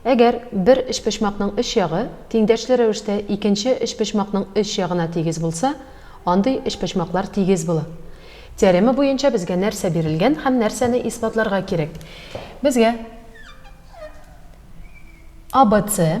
Әгәр бер өчпочмакның өч ягы тиңдәшле рәвештә икенче өчпочмакның өч ягына тигез булса, андый өчпочмаклар тигез була. Теорема буенча безгә нәрсә бирелгән һәм нәрсәне исбатларга кирәк? Безгә ABC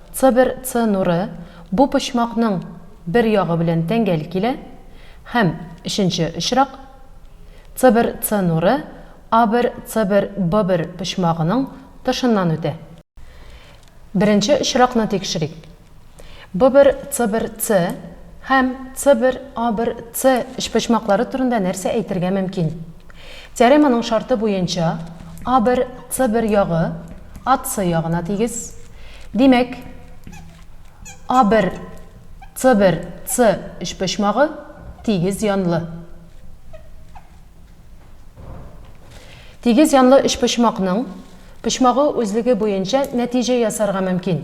Цбер Ц нуры бу почмакның бер ягы белән тәңгәл килә һәм, өченче очрак, Цбер Ц нуры А1 Цбер Б1 почмагының тышыннан үтә. Беренче очракны тикшерик. Б1 Цбер Ц һәм Цбер А1 Ц өчпочмаклары турында нәрсә әйтергә мөмкин? Теореманың шарты буенча, А бер, С бер ягы АС ягына тигез. Димәк, А бер, С бер, С өчпочмагы тигез янлы. Тигез янлы өчпочмакның почмагы үзлеге буенча нәтиҗә ясарга мөмкин.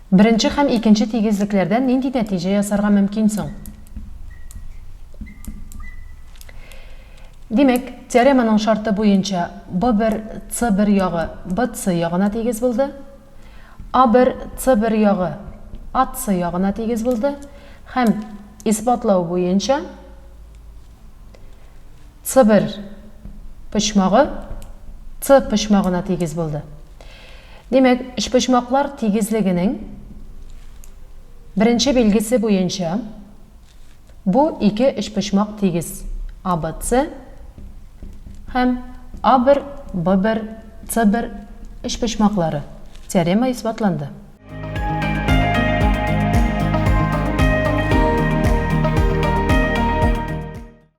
Беренче һәм икенче тигезлекләрдән нинди нәтиҗә ясарга мөмкин соң? Димәк, теореманың шарты буенча B1, C1 ягы BC ягына тигез булды, A1, C1 ягы AC ягына тигез булды һәм исбатлау буенча Цыбер почмагы Ц почмагына тигез булды. Димәк, өчпочмаклар тигезлегенең беренче билгесе буенча бу ике өчпочмак тигез, ABC һәм A1, B1, C1 өчпочмаклары. Теорема исбатланды.